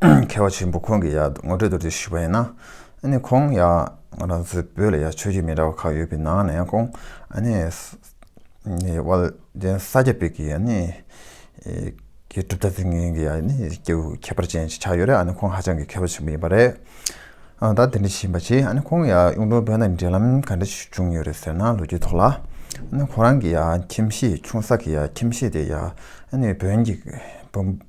མཁས་པ་ཆེན་པོ་ཁོང་གི་ཡག་ངོ་སྤྲོད་དུ་རེ་ཞུས་པ་ཡིན་ན། ཨ་ནི་ཁོང་ཡག་ང་རང་ཚོའི་བོད་ལ་ཡག་ཆོས་བརྒྱུད་མི་འདྲ་བ་ཁག་ཡོད་པའི་ནང་ནས་ཁོང་ཨ་ནི་དབལ་རྒྱལ་ས་སྐྱ་པའི་གི་ཨ་ནི་གི་གྲུབ་མཐའ་ཚིག་ངན་གི་ཨ་ནི་སྐྱེ་བོའི་ཁྱད་པར་ཅན་ཞིག་ཆགས་ཡོད་རེད་ཨ་ནི་ཁོང་ཧ་ཅང་གི་མཁས་པ་ཆེན་པོ་ཡིན་པ་རེད། ད་དེ་འདྲ་བྱིན་པ་ཆེས་ཨ་ནི་ཁོང་ཡག་གཡུང་དྲུང་བོན་དང་འབྲེལ་ལམ་ག་འདྲ་ཞིག་བྱུང་ཡོད་རེད་ཟེར་ན་ལོ་རྒྱུས་ཐོག་ལ་ཨ་ནི་ཁོ་རང་གི་ཡག་ཁྱིམ་གཞིས་ཆུང་ས་གི་ཡག་ཁྱིམ་གཞིས་དེ་ཡག་ཨ་ནི་བོན་གྱི་བོན་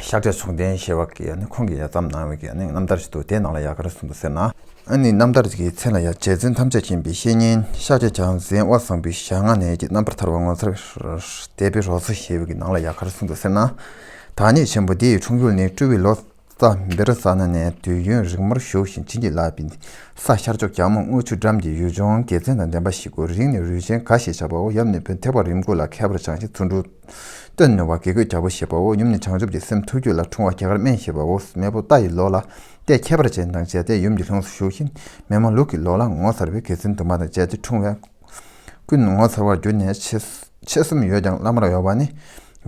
ཤ་ཁྲེ་ཚོང་ལྡན་ཞེས་པ་གིས་ཁོང་གི་ཡ་མཚམས་ནང་བའི་རྣམ་ཐར་ཞིག་ཏུ་དེའི་ནང་ལ་ཡ་གར་གསུངས་འདུག་ཟེར་ན། ཨ་ནི་རྣམ་ཐར་གྱི་མཚན་ལ་ཡ་བྱད་བརྩོན་ཐམས་ཅད་མཁྱེན་པའི་བཤེས་གཉེན་ཤ་ཁྲེ་བྱང་བཟན་དབལ་བཟང་པོའི་ཞག་སྔ་ནས་ཀྱི་རྣམ་པར་ཐར་བ་ངོ་མཚར་དད་པའི་རོ་སོ་ཞེས་པའི་ནང་ལ་ཡ་གར་གསུངས་འདུག་ཟེར་ན། ཐ་སྙད་ཆེན་པོ་འདི་ཡི་འཁྲུངས་ཡུལ་ནི་སྤྲུལ་བའི་ལོ་ཙཱ་བེ་རི་ས་ན་ནས་དུས་ཡུན་རིང་མོར་བཞུགས་ཤིང་བྱིན་གྱིས་བརླབས་པའི་ས་ཤར་ཕྱོགས་གྱང་མོ་རྔུལ་ཆུ་འགྲམ་གྱི་ཡུལ་ལྗོངས་དགེ་མཚན་དང་ལྡན་པ་ཞིག་གོ་རིང་ནས་རུས་ཆེན་ག་ཞེས་བྱ་བའོ་ཡབ་ནི་བོན་ཐེག་པ་རིམ་དགུ་ལ་མཁས་པར་སྦྱངས་ཤིང་ཚུར་འབྲུ། སྟོད་ནི་བ་དགེ་རྒོད་རྒྱལ་པོ་ཞེས་པའོ་ཡུམ་ནི་བྱང་ཆུབ་ཀྱི་སེམས་ཐུགས་རྒྱུད་ལ་འཁྲུངས་བ་གྱི་ཀར་དམན་ཞེས་པའོ་མེས་པོ་རྟ་ཡི་ལོ་ལ་རྟའི་ཁྱད་པར་ཅན་དང་བཅས་ཏེ་ཡུམ་གྱི་ལྷུམས་སུ་ཞུགས་ཤིང་མེས་མ་ལུག་གི་ལོ་ལ་ངོ་མཚར་བའི་དགེ་མཚན་དུ་མ་དང་བཅས་ཏེ་འཁྲུངས་བས། ཀུན་ངོ་མཚར་བར་གྱུར་ནས་མཆེད་གསུམ་ཡོད་ཀྱང་བླ་མར་གཡོགས་པ་ནི།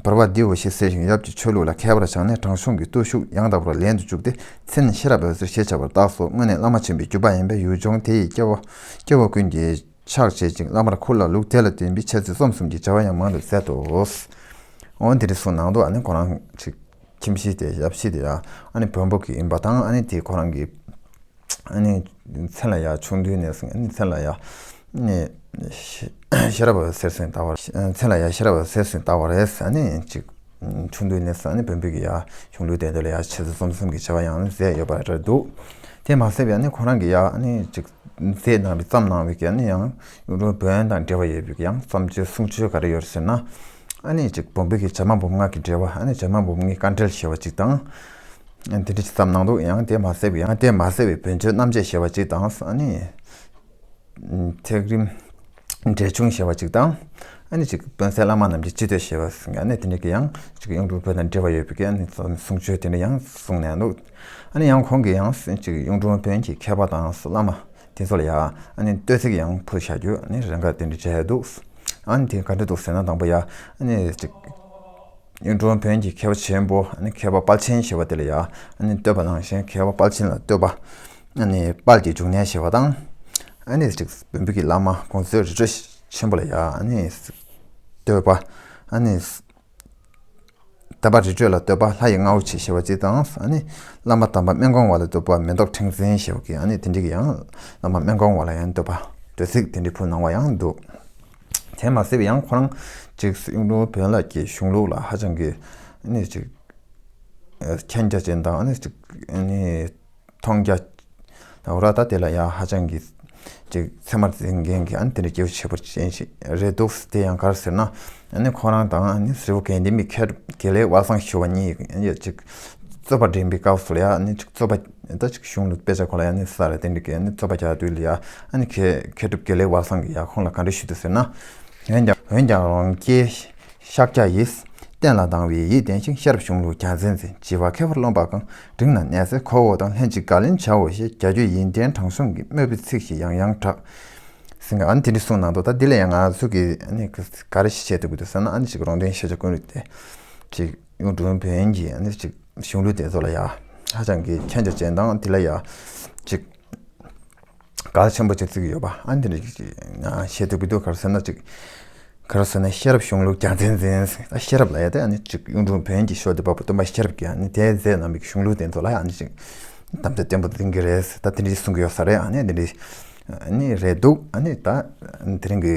བོར་བ་འདིའོ་ཞེས་ཟེར་ཞིང་ཡབ་ཀྱི་ཆོས་ལུགས་ལ་མཁས་པར་སྦྱངས་ནས་དྲང་སྲོང་གི་བརྟུལ་ཞུགས་ཡང་དག་པར་ལེན་དུ་བཅུག་སྟེ་ཚེ་ནི་ཤེས་རབ་འོད་ཟེར་ཞེས་བྱ་བར་བཏགས་སོ་སྔོན་ནི་བླ་མ་ཆེན་པོའི་རྒྱུད་པ་ཡིན་པས་ཡུལ་ལྗོངས་དེ་ཡི་སྐྱེ་བོ་ཀུན་གྱིས། ཕྱག་བྱེད་ཅིང་བླ་མར་འཁུར་ལ་ལུགས་དེ་ལ་བརྟེན་པའི་འཆད་རྩོད་རྩོམ་གསུམ་གྱི་བྱ་བ་ཡང་མང་དུ་མཛད་དོ། འོན་ཏེ་རི་སུལ་ནང་དུ་ཁོ་རང་གི་ཁྱིམ་གཞིས་དེ་ཞབས་ཕྱི་དེ་ཡང་བོན་པོ་གི་ཡིན་པ་དང་དེ་ཁོ་རང་གི་མཚན་ལ་ཡང་ཆུང་དུས་ནས་བཟུང་མཚན་ལ་ཡང་ཤེས་རབ་གསེར་སུན་བཏགས་པ་མཚན་ལ་ཡང་ཤེས་རབ་གསེར་སུན་བཏགས་པ་རེད། ཆུང་དུས་ནས་བཟུང་བོན་པོ་གི་གཞུང་ལུགས་དེ་དག་ལ་ཡང་འཆད་རྩོད་རྩོམ་གསུམ་གྱི་བྱ་བ་ཡང་མཛད་ཡོད་པ་རེད་འདུག་དེ་མ་ཟད་པའི་ཁོ་རང་གི་ཚེས་ནང་གི་བརྩམས་གནང་བའི་གན་ནི་ཡང་གཡུང་དྲུང་བོན་དང་འབྲེལ་བ་ཡོད་པའི་ཡང་བརྩམས་ཆོས་གསུང་ཆོས་ག་རེ་ཡོད་ཟེར་ན། ཨ་ནི་གཅིག་བོན་པོའི་བྱ་མ་བུམ་སྔགས་ཀྱི་འགྲེལ་བ་ཨ་ནི་བྱ་མ་བུམ་སྔགས་བཀའ་འགྲེལ་ཞེས་བ་གཅིག་དང། དེ་འདྲ་གཅིག་བརྩམས་གནང་འདུག་ཡང་དེ་མ་ཟད་པའི་ཡང་དེ་མ་ཟད་པའི་བོན་ཆོས་རྣམ་འབྱེད་ཞེས་བ་གཅིག་དང་ཨ་ནི། ཐེག་རིམ། འབྲས་ཆུང་ཞེས་པ་ཅིག་དང། ཨ་ནི་ཅིག་དཔོན་སའི་བླ་མ་རྣམས་ཀྱིས་ཅི་འདོད་ཞེས་པ་གསུངས་ཀྱི་ཨ་ནི་དེ་འདྲ་གི་ཡང་ཅིག་གཡུང་དྲུང་བོན་དང་འབྲེལ་བ་ཡོད་པའི་གི་ཨ་ནི་གསུང་ཆོས་དེ་འདྲ་ཡང་གསུངས་ནས་འདུག་ཨ་ནི་ཡང་ཁོང་གི་ཡང་ཅིག་གཡུང་དྲུང་བོན་གྱི་མཁས་པ་དང་སོ་བླ་མ་དེ་ཚོ་ལ་ཡ་ཨ་ནི་བསྟོད་ཚིག་ཡང་ཕུལ་བྱ་རྒྱུ་ཨ་ནི་རེ་འགའ་དེ་འདྲ་བྱས་འདུག་ཨ་ནི་དེ་ག་འདྲ་འདུག་ཟེར་ན་དང་པོ་ཡ་ཨ་ནི་ཅིག་གཡུང་དྲུང་བོན་གྱི་མཁས་པ་ཆེན་པོ་ཨ་ནི་མཁས་པ་དཔལ་ཆེན་ཞེས་པ་དེ་ལ་ཡ་ཨ་ནི་བསྟོད་པ་ནང་བཞིན་མཁས་པ་དཔལ་ཆེན་ལ་བསྟོད་པ་དཔལ་གྱི་འབྱུང་གནས་ཞེས་པ་དང། བོན་པོད་ཀྱི་བླ་མ་ཀོང་ཙེའི་རི་ཁྲོད་ཆེན་པོ་ལ་ཡང། བསྟོད་པ། དམ་པ་རི་ཁྲོད་ལ་བསྟོད་པ་ལྷ་ཡི་རྔ་བོ་ཆེ་ཞེས་པ་གཅིག་དང། བླ་མ་དམ་པ་སྨན་གོང་བ་ལ་བསྟོད་པ་མེ་ཏོག་ཕྲེང་འཛིན་ཞེས་པ་གཉིས་དེ་འདྲ་གྱི་ཡང། བླ་མ་སྨན་གོང་བ་ལ་ཡང་བསྟོད་པ་དྲོད་ཚིགས་དེ་འདྲའི་ཕུལ་གནང་བ་ཡང་འདུག། དེ་མ་ཟད་པ་ཡང་ཁོ་རང་གཅིག་གཡུང་དྲུང་བོན་བླ་ཀྱི་གཞུང་ལུགས་ལ་ཧ་ཅང་གི། མཁྱེན་རྒྱ་ཅན་དང། མཐོང་རྒྱ། ད་འོ་ར་ད་དེ་ལ་ཡང་ཧ་ཅང་གི། ཅིག་ཚད་མར་འཛིན་མཁན་གྱི་ཨ་ནི་དེ་འདྲའི་སྐྱེ་བོ་བྱེད་པོ་ཅན་ཞིག་རེད་འདུག་དེ་ཡང་གར་ཟེར་ན། ཨ་ནི་ཁོ་རང་དང་ཨ་ནི་ཧྲིལ་བོ་གན་དྷི་མི་ཁེ་དགེ་ལེགས་བ་སངས་ཞུ་བ་གཉིས་ཡོད་ཅིག། རྩོད་པ་འགྲིམ་པའི་སྐབས་སུ་ལ་ཡ་ཨ་ནི་ཅིག་རྩོད་པ་ད་ཅིག་གཞུང་ལ་དཔེ་ཆ་གོ་ལ་ཡ་ཨ་ནི་ས་ར་དེ་འདྲའི་གི་ཨ་ནི་རྩོད་པ་རྒྱག་དུས་ལ་ཡ་ཨ་ནི་ཁེ་ཁེ་སྒྲུབ་དགེ་ལེགས་བ་སངས་ཀྱིས་ཡ་ཁོང་ལ་ག་འདྲ་ཞུ་འདུག་ཟེར་ན། འོན་ཀྱང་འོན་ཀྱང་རང་སྐྱེས་ཤཱཀྱ་ཡིས་གཏན་ལ་དང་བའི་ཡིད་བརྟན་ཞིང་ཤེས་རབ་གཞུང་ལུགས་གྱ་མཚན་འཛིན་བྱེད་བ་མཁས་པར་རློམ་པ་གང་འབྲིང་ན་ནད་སེལ་ཁོག་འོག་དང་ལྷན་ཅིག་དགག་ལེན་བྱའོ་ཞེས་རྒྱ་ཆོས་ཡིན་ཏན་དྲང་སྲོང་གི་དམོད་པའི་ཚིག་ཞིག་ཡང་ཡང་བསྒྲགས། ཟིན་ཨ་ནི་དེ་འདྲའི་གསུངས་གནང་འདུག་ད་འདི་ལ་ཡང་ང་ཚོ་གིས་ཨ་ནི་ག་རེ་ཞིག་བྱེད་ཐུབ་ཀྱི་འདུག་བསམ་ན་ཨ་ནི་ཅིག་རོང་སྟོན་ཤེས་བྱ་ཀུན་རིག་དེ་ཅིག་གཡུང་དྲུང་བོན་གྱི་ཨ་ནི་ཅིག་གཞུང་ལུགས་དེ་ཚོ་ལ་ཡང་ཧ་ཅང་གི་མཁྱེན་རྒྱ་ཅན་དང་དེ་ལ་ཡང་ཅིག། ག་ལ་ཆེན་པོ་ཅིག་བརྩིགས་ཀྱི་ཡོད་པ་ཨ་འདི་འདྲ་ཞིག་ཅིག་བཤད་ཐུབ་ཀྱི་འདུག་ག་རེ་ཟེར་ན་ཅིག་ག་རེ་ཟེར་ན་ཤེས་རབ་གཞུང་ལུགས་རྒྱ་མཚན་འཛིན་ཨ་ཤེས་རབ་ལ་ཡ་དེ་ཨ་ནི་ཅིག་གཡུང་དྲུང་བོན་གྱི་ཤོག་དེ་བབས་པ་སྟོན་པ་ཤེས་རབ་ཀྱིས་ཨ་ནི་དེའི་རྫས་རྣམས་ཀྱི་གཞུང་ལུགས་དེ་ཚོ་ལ་ཡང་ཨ་ནི་ཅིག་གཏམ་རྒྱ་བརྟན་པོ་འཛིན་གྱི་རེད་ཟེར་ད་འདི་འདྲ་ཞིག་གསུང་གི་ཡོད་ས་རེད་ཨ་ནི་འདི་འདྲ་ནི་རེད་འདུག་ཨ་ནི་ད་དེ་རིང་གི